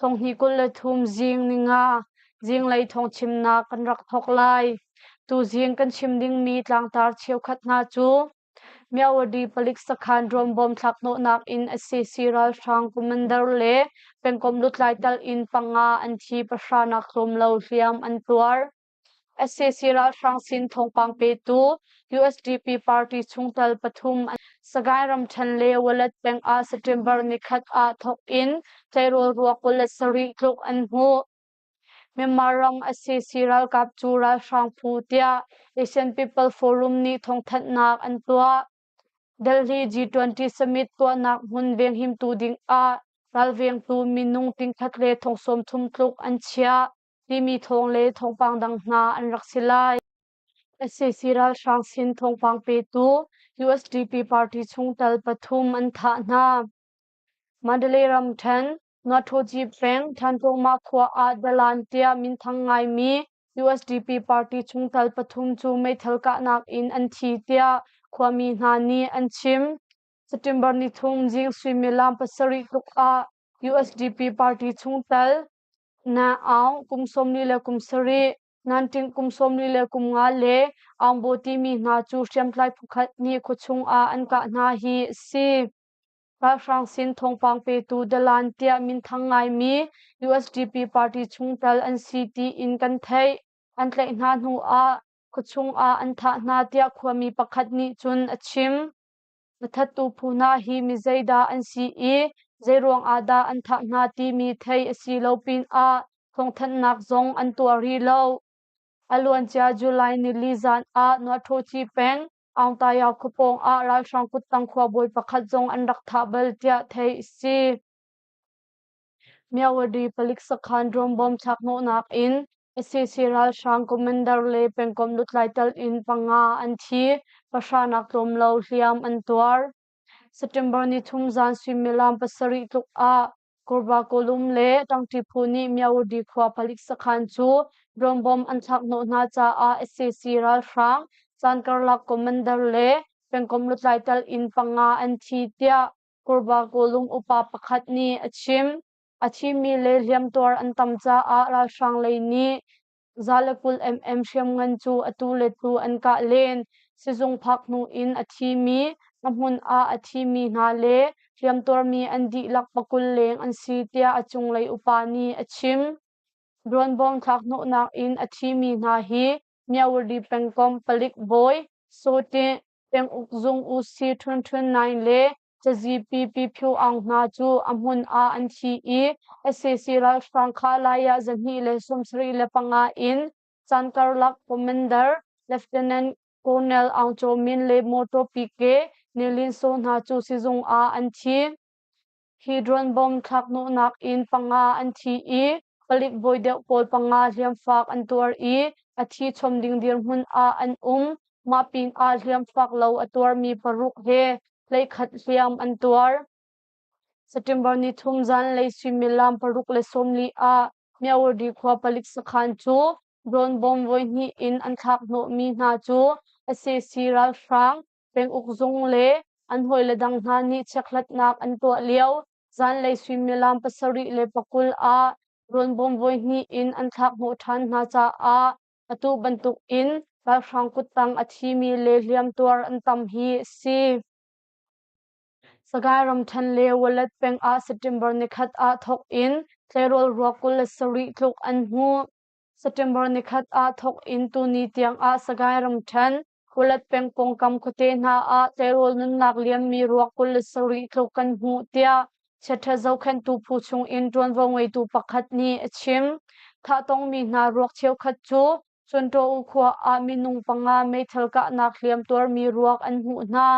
Thonghnih kul le thum zing ni nga zinglei thawngchimnak kan rak thawk lai. Tuzing kan chim dingmi tlangtar cheukhat hna cu Myawadi palik sakhan ruambawm thlaknawhnak in SCC ralhrang commander le pengkomh lutlai tal in panga an thi pahranak tlawmlo hliam an tuar. SAC ralhrang sin thawngpang petu USDP party chungtel pathum Sagaing ramṭhen le Walet peng ah September ni khat ah thawk in tleirawl ruak kulet sarih tluk an hmuh. Myanmar ram SAC ralkap cu ralhrang phu tiah Asian People Forum nih thawngthanhnak an tuah. Delhi G20 summit tuahnak hmun venghimtu ding ah ralvengtu minung tingkhat le thongsawm thum tluk an chiah. Timi thawng le thawngpang dang hna an rak si lai. SAC ralhrang sin thawngpang petu USDP party chungtel pathum an thah hna. Mandalay ramthen Nathoji peng Thantlongma khua ah dalan tiah minthang ngaimi USDP party chungtel pathum cu meithal kahnak in an thi tiah khuami hna nih an chim. September ni thum Jing suimilam pasarih tluk ah USDP party chungtel Na aung kum sawmli le kum sarih, nanṭing kum sawmli le kum nga le aungbaw timi hna cu hriamtlai phukhat nih khuachung ah an kah hna hi a si. Ralhrang sin thawngpang petu Dalan tiah minthang ngaimi USDP party chung tal an si tiin kan theih. An tlaih hna hnu ah khuachung ah an thah hna tiah khuami pakhat nih cun a chim. Na thattu phu hna hi mi zeidah an si i zeiruang ah dah an thah hna timi theih a si lo pinah thawngthanhnak zong an tuah rih lo. A luancia July nili zan ah Nuahtawci peng Aungtaya khua pawng ah ralhrang kuttang khuabawi pakhat zong an rak thah bal tiah theih a si. Myawaddy palik sakhan drum bomb thlakhnawhnak in sac ralhrang commander le pengkomh lutlai telh in panga an thi, pahranak tlawm lo hliam an tuar. September nithum zan suimilam pasarih tluk ah Kurbakawlum le Tangti phu nih Myawaddy khua palik sakhan cu drum bomb an thlakhnawh hna caah sac ralhrang caan karlak commander le pengkomh lutlai telh in panga an thi, tiah Kurvakawlung upa pakhat nih a chim. A thimi le hliamtuar an tam caah ralhrang lei nih za le kul mm hriamngan cu atu le tu an kah len. Sizung phak hnu in a thimi, a hmun ah a thimi hna le hliamtuarmi an dihlak pakul leng an si tiah a cunglei upa nih a chim. Duanbawng thlakhnawhnak in a thimi hna hi Myawri pengkom palik bawi Sote Penguk Zung UC ṭhunṭhun nai le cazippi phyu aung hna cu a hmun ah an thi i SAC ralhrang kha laiah zahnih le sawmsarih le panga in caan karlak commander Lieutenant Colonel Aung Cho Min le mawṭaw pike Nilin So hna cu sizung ah an thi. Kidron bom thlaknuhnak in panga an thi i palik bawi deuh pawl panga hliamfaak an tuar i a thi chom ding dirhmun ah an um. Mah pinah hliamfaak lo a tuarmi paruk he hleikhat hliam an tuar. September ni thum zanlei suimilam paruk le sawmli ah Myawurdi khua palik sakhan cu drone bom voihnih in an thlak hnawhmi hna cu a si ralhrang penguk zung le an hawile dang hna nih chekhlatnak an tuah lio zanlei suimilam pasarih le pakul ah rawnbawm voi hnih in an thlakhnawh ṭhan hna caah atu bantuk in ralhrang kuttang a thimi le hliamtuar an tam hi a si. Sagaing ramṭhen le Walet peng ah September nikhat ah thawk in tleirawl ruak kul le sarih tluk an hmuh. September nikhat ah thawk in tuni tiangah Sagaing ramṭhen Kulat peng pawngkam khuate hna ah tleirawl nunnak lianmi ruak kul le sarih tluk kan hmuh, tiah chiaṭha zohkhenhtu phu chungin ṭuanvo ngeitu pakhat nih a chim. Thah tongmi hna ruak cheukhat cu Chunṭaw khua ah minung panga meithal kahnak hliam tuarmi ruak an hmuh hna.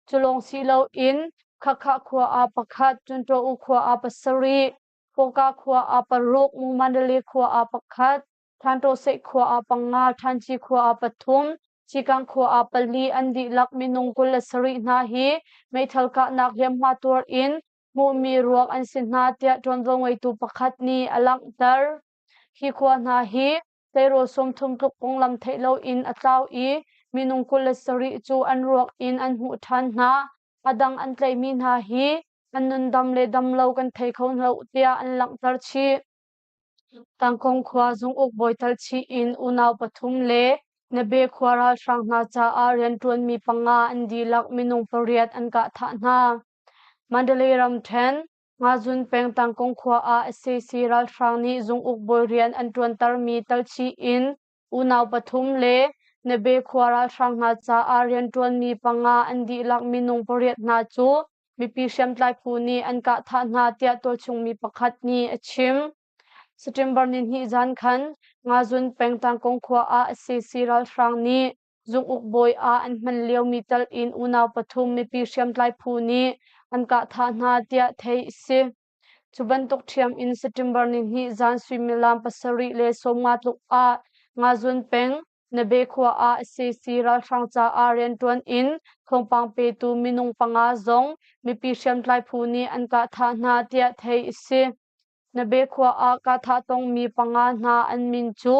Cu lawng si loin Khakha khua ah pakhat, Chunṭaw khua ah pasarih, Hpawka khua ah paruk, Mu-man-Rale khua ah pakhat, Thantawseh khua ah panga, Thanci khua ah pathum, Cikang khua ah pali an dihlak minung kul le sarih hna hi meithal kahnak hliamhma tuar in hmuhmi ruak an si hna tiah ṭuanvo ngeitu pakhat nih a langhter. Hi khua hna hi tleirawl sawmthum tluk konglam theih loin a tlau i minung kul le sarih cu an ruak in an hmuh ṭhan hna. A dang an tleimi hna hi an nundam le damlo kan thei kho lo tiah an langhter chih. Tangkong khua zunguk bawital chih in unau pathum le Nabe khua ralhrang hna caah rianṭuanmi panga an dihlak minung pariat an kah thah hna. Mandalay ramṭhen, Ngazun peng Tangkong khua ah sac ralhrang nih zunguk bawi rian an ṭuantermi tal chih in Unau pathum le Nabe khua ralhrang hna caah rianṭuanmi panga an dihlak minung pariat hna cu mipi hriamtlai phu nih an kah thah hna tiah tualchungmi pakhat nih a chim. September nihnih zan khan Ngazun pengtang Kongkhua ah SCC ralhrang nih zunguk bawi ah an hman liomi tal in unau pathum mipi hriamtlai phu nih an kah thah hna tiah theih a si. Cu bantuk ṭhiam in September ni hnih zan suimilam pasarih le sawmnga tluk ah Ngazun peng, Nabe khua ah sac ralhrang caah rianṭuan in thawngpang petu minung panga zong mipi hriamtlai phu nih an kah thah hna tiah theih a si. Nabe khua ah kahthah tongmi panga hna an min cu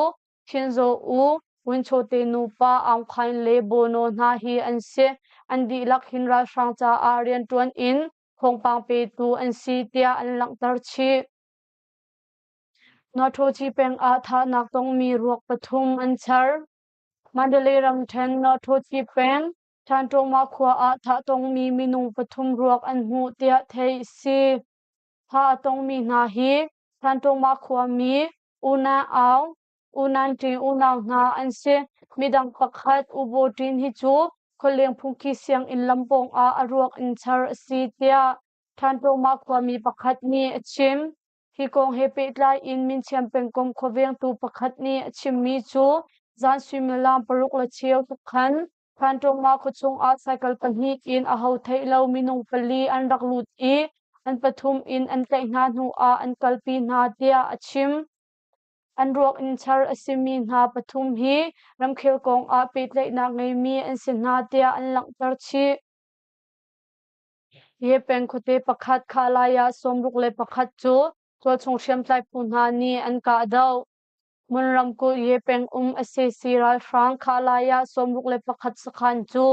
Thinzaw U, Wunchawte nupa Aung Khain le Bono hna hi an si. An dihlak hin ralhrang caah rianṭuan in Thawngpang petu an si tiah an langhter chih. Nautawchi peng ah thahnak tongmi ruak pathum an char. Mandalay ramṭhen Nautawchi peng Thanṭawma khua ah thah tongmi minung pathum ruak an hmuh tiah theih a si. Thah a tongmi hna hi Thanṭawma khuami Una Aung, Unanṭin unau hna an si. Midang pakhat Ubotin hi cu khualeng phungki sianginn lam pawngah a ruak in char a si tiah Ṭhanṭoma khuami pakhat nih a chim. Hi kong he pehtlai in Minthiam pengkomh khuavengtu pakhat nih a chimmi cu zan suimilam paruk le cheu tluk khan Ṭhanṭoma khua chungah cycle pahnih in a ho theih lo minung pali an rak lut i an pathum in an tlaih hna hnuah an kalpi hna tiah a chim. An ruak in char a simi hna pathum hi ramkhel kong ah pehtlaihnak ngeimi an si hna tiah an langhter chih. Hi peng khuate pakhat khah lai ah sawmruk le pakhat cu tualchung hriamtlai phu hna nih an kahdoh. Hmun ramkulh Ye peng um sac ralhrang khah lai ah sawmruk le pakhat sakhan cu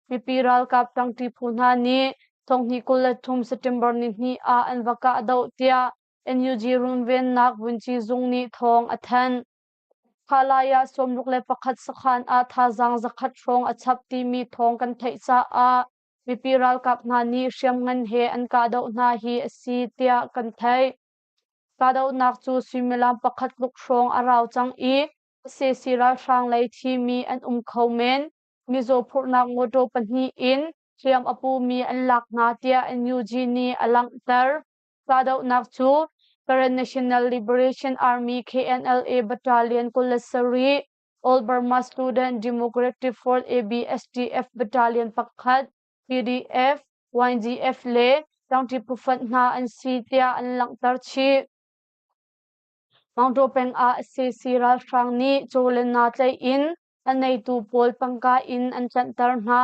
mipi ralkap ṭangṭi phu hna nih thonghni kul le thum September ni hnih ah an va kahdoh tiah NUG runvennak vunci zung nih thawng a thanh. Khalaya sawmruk le pakhat sakhan ah thazaang zakhat hrawng a chap timi thawng kan theih caah mipi ralkap hna nih hriamngan he an kahdoh hna hi a si tiah kan theih. Kahdohnak cu suimilam pakhat tluk hrawng a rau cang i sac ralhrang lei thimi an um kho men. Mizaw phurhnak mawtaw pahnih in hliam a pumi an lak hna tiah NUG nih a langhter. Kahdohnak cu Karen National Liberation Army KNLA Battalion kul le sarih Old Burma Student Democrat Reform ABSDF Battalion pakhat PDF, YDF le tlangṭi pufat hna an si tiah an langhter chih. Mangṭaw peng ah SCC ralhrang nih caw le naa tlaih in a neitu pawl tangka in an tlanhter hna.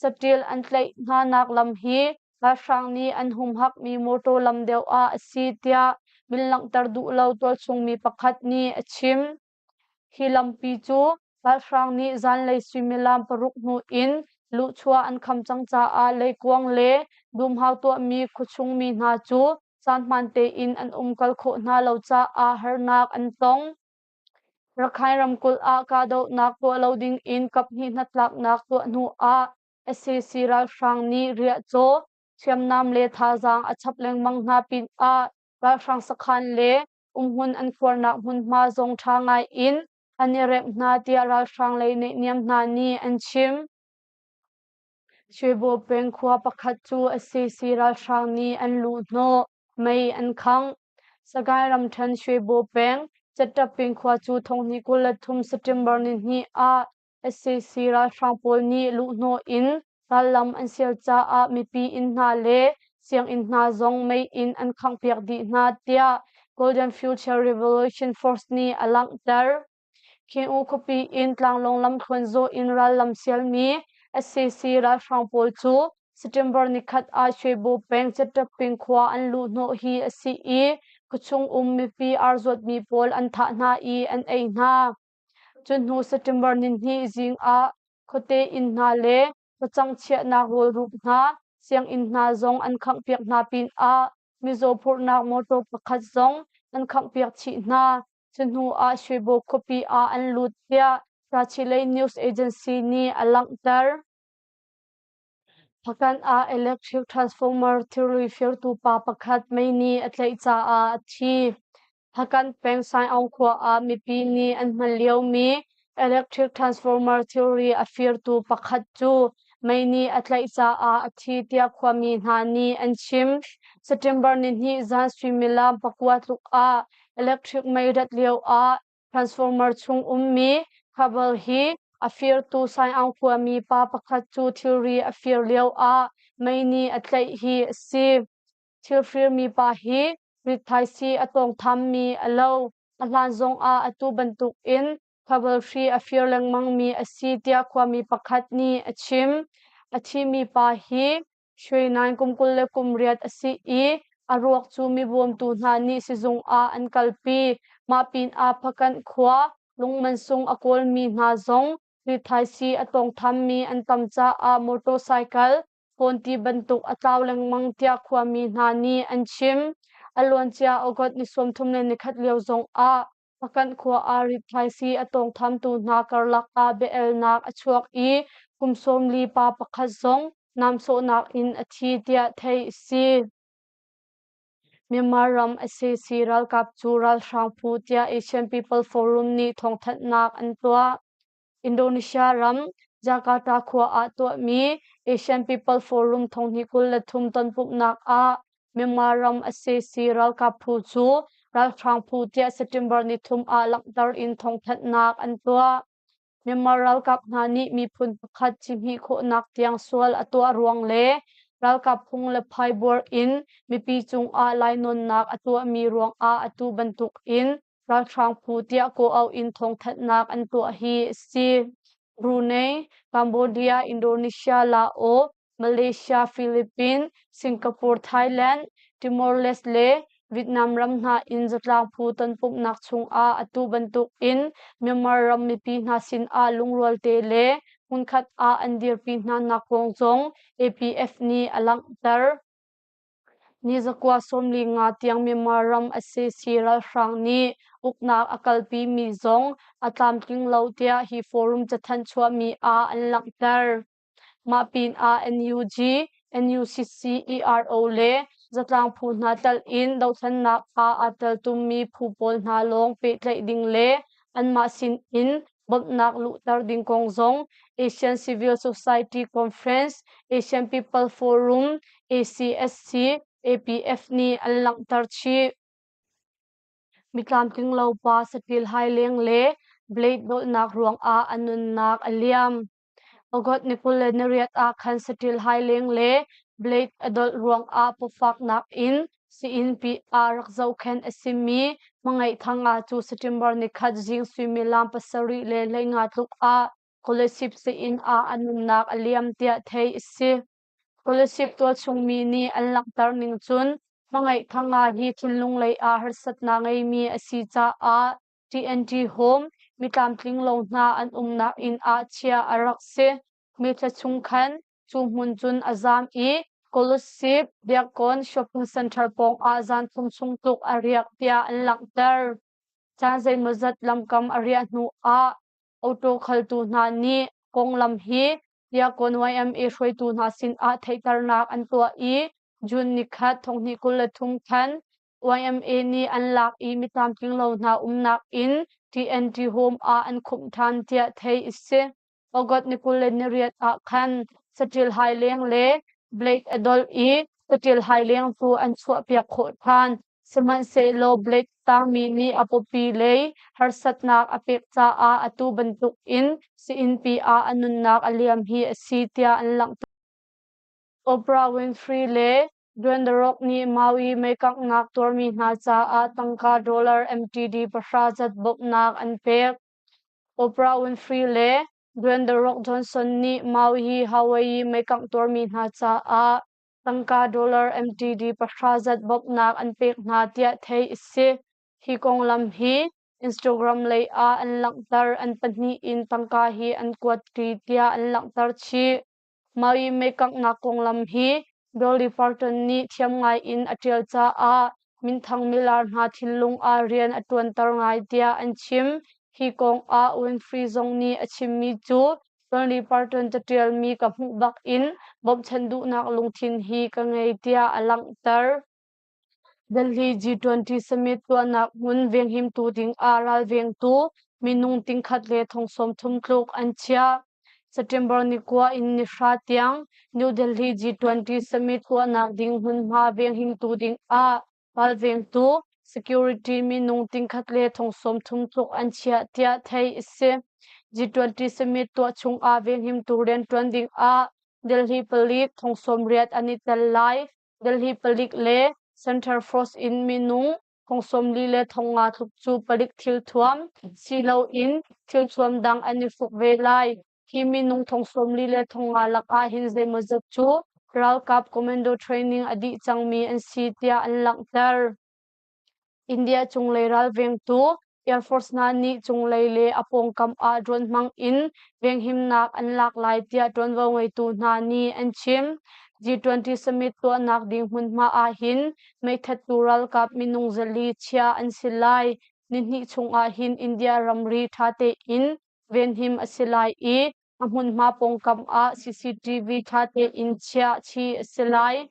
saṭil an tlaih hnanak lam hi ralhrang nih an humhakmi mawṭaw lam deuh ah a si tiah min langhter duh lo tualchungmi pakhat nih a chim. Hi lampi cu ralhrang nih zanlei suimilam paruk hnu in luhchuah an kham cang caah leikuang le dumhau tuahmi khuachungmi hna cu caan hmaan tein an umkal khawh hna lo caah harnak an tong. Rakhine ramkulh ah kahdohnak tuah lo ding in kaphnih hnatlaknak tuah hnu ah sac ralhrang nih riahcaw, hriamnam le thazaang a chap lengmang hna pin ah ralhrang sakhan le umhmun an khuarnak hmunhma zong ṭha ngai in an i remh hna tiah ralhrang lei neihniam hna nih an chim. Shuibaw peng khua pakhat cu SCC ralhrang nih an luh hnawh, mei an khangh. Sagaing ramṭhen Shuibaw peng Caṭap peng khua cu thonghni kul le thum September nihnih ah SCC ralhrang pawl nih luhhnawh in rallam an sial caah mipi inn hna le sianginn hna zong mei in an khanghpiak dih hna, tiah Golden Future Revolution Force nih a langhter. Khing-u khuapi in tlanglawng lamthluan zawh in rallam sialmi SAC ralhrang pawl cu September nikhat ah Shwebo peng Cetep peng khua an luhhnawh hi a si i khuachung um mipi aa zuatmi pawl an thah hna i an ei hna. Cuhnu September nihnih zing ah khuate inn hna le facang chiahnak rawlrup hna, sianginn hna zong an khanghpiak hna pinah mizaw phurhnak motor pakhat zong an khanghpiak chih hna. Cuhnu ah Shibu khuapi ah an lut tiah Sachilei news agency nih a langhter. Pakhat ah electric transformer thilri firtu pa pakhat mei nih a tlaih caah a thi. Hakant peng Saiaung khua ah mipi nih an hman liomi Electric transformer thilri a firtu pakhat cu mei nih a tlaih caah a thi tiah khuami hna nih an chim. September nihnih zan suimilam pakua tluk ah electric mei rat lioah transformer chung ummi cable hi a firtu Saiaung khuami pa pakhat cu thilri a fir lioah mei nih a tlaih hi a si. Thilfir mipa hi rithaisi a tawngthammi a lo, a hlan zongah atu bantukin khabalhri a fir lengmangmi a si tiah khuami pakhat nih a chim. A thimi pa hi Shwe Naing kum kul le kum riat a si i a ruak cu mibawmtu hna nih sizung ah an kalpi. Mah pinah Phakanh khua lungmansung a kawlmi hna zong rithaisi a tawngthammi an tam caah motorcycle Fawn ti bantuk a tlau lengmang tiah khuami hna nih an chim. A luancia August ni sawmthum le nikhat lio zong ah Pakanh khua ah rithaisi a tawngthamtu hna karlak ah bia-elnak a chuak i kum sawm li pa pakhat zong namsawhnak in a thi tiah theih a si. Myanmar ram SAC ralkap cu ralhrang phu tiah Asian People Forum nih thawngthanhnak an tuah. Indonesia ram Jakarta khua ah tuahmi Asian People Forum thonghi kul le thum tonpumhnak ah Myanmar ram sac ralkap phu cu ralhrang phu tiah September nithum ah langhter in thawngthanhnak an tuah. Myanmar ralkap hna nih miphun pakhat cihmih khawhnak tiang sual a tuah ruang le ralkap phung le phaibuar in mipi cungah lainawnnak a tuahmi ruangah atu bantuk in Ralhrang phu tiah kaw auh in thawngthanhnak an tuah hi a si. Brunei, Cambodia, Indonesia, Laos, Malaysia, Philippines, Singapore, Thailand, Timor-Leste le Vietnam ram hna in zatlang phu tonpumhnak chungah atu bantuk in Myanmar ram mipi hna sinah lungrual te le hmunkhat ah an dirpi hnanak kong zong APF nih a langhter. Nizakua sawmli nga tiang Myanmar ram sac ralhrang nih uknak a kalpi mi zong a tlamtling lo tiah hi forum cathanh chuahmi ah an langhter. Mah pinah NUG, NUCCERO le zatlang phu hna telh in dohthlennak ah aa teltum mi phu pawl hna lawng pehtlaih ding le anmah sin in Bawmhnak luhter ding kong zong Asian Civil Society Conference, Asian People Forum, ACSC, APF nih an langhter chih. Mitlamtlinglo pa saṭil hai leng le blade dolhnak ruangah a nunnak a liam. Ogot nipul le nariat ah khan saṭil haileng le blade a dolh ruangah pawfaknak in si-innpi ah rak zohkhenh a simi hmangaihtanga cu September ni khat zing suimilam pasarih le hleinga tluk ah Kolasib sein ah a nunnak a liam tiah theih a si. Kolasib tualchungmi nih an langhter ning cun hmangaihtanga hi thinlung lei ah harsatnak ngeimi a si caah TNT Home mitlamtling lo hna an umnak inn ah chia a rak si. Meithla chung khan cu hmun cun a zaam i Kolusip Biakkawn shopping center pawng ah zanthum sung tluk a riak tiah an langhter. Caan zeimawzat lamkam a riah hnu ah auto khaltu hna nih konglam hi Biakkawn YMA hruaitu hna sinah theihternak an tuah i June ni khat thonghnih kul le thum khan YMA nih an lak i mitlamtlinglo hna umnak in TNT Home ah an khumh ṭhan tiah theih a si. August ni kul le ni riat ah khan saṭil haileng le Blake Adolf i saṭil haileng cu an chuahpiak khawh ṭhan. Sihmanhsehlaw Blake tangmi nih a pawpi lei harsatnak a pek caah atu bantuk in si-innpi ah a nunnak a liam hi a si tiah an langhter. Oprah Winfrey le Duandarok nih Maui meikanghnak tuarmi hna caah tangka dollar MTD pahra cat bawmhnak an pek. Oprah Winfrey le Duan The Rock Johnson nih Maui hi Hawaii meikangh tuarmi hna caah tangka dollar MTD pahra cat bawmhnak an pek hna tiah theih a si. Hi konglam hi Instagram lei ah an langhter. An pahnih in tangka hi an kuat ṭi tiah an langhter chih. Mei mekangnak konglam hi Dolly Parton nih thiam ngai in a ṭial caah minthang milar hna thinlung ah rian a ṭuanter ngai tiah an chim. Hi kong ah Winfrey zong nih a chimmi cu Dolly Parton caṭialmi ka hmuh bak in bawmhchanh duhnak lungthin hi ka ngei tiah a langhter. Delhi G20 summit tuahnak hmun venghimtu ding ah ralvengtu minung tingkhat le thong sawmthum tluk an chiah. September ni kua in nihra tiang New Delhi G20 summit tuahnak ding hmunhma venghimtu ding ah ralvengtu security minung tingkhat le thong sawmthum tluk an chiah tiah theih a si. G20 summit tuah chung ah venghimtu rianṭuan ding ah Delhi palik thong sawm riat an i tel lai. Delhi palik le Center Force in minu thong sawmli le thong nga tluk cu palik thilthuam siloin thilthuam dang an i hruk ve lai. Hi minung thong sawmli le thong nga lakah hin zeimawzat cu ralkap commando training a dih cangmi an si tiah an langhter. India cunglei ralvengtu Air Force hna nih cunglei le a pawngkam ah drone hmang in venghimnak an lak lai tiah ṭuanvo ngeitu hna nih an chim. G20 summit tuahnak ding hmunhma ahhin meithattu ralkap minung zali chiah an si lai. Ni hnih chung ahhin India ramri ṭha tein venhim a si lai i A hmunhma pawngkam ah CCTV ṭha tein chiah khi a si lai.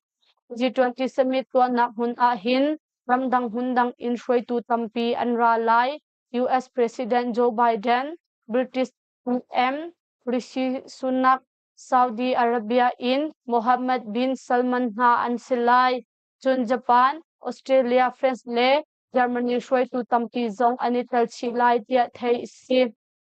G20 summit tuahnak hmun ah hin ramdang hmundang in hruaitu tampi an ra lai. US President Joe Biden, British PM Rishi Sunak, Saudi Arabia in Mohammed bin Salman hna an si lai. Cun Japan, Australia, France le Germany hruaitu tampi zong an i tel chih lai tiah theih a si.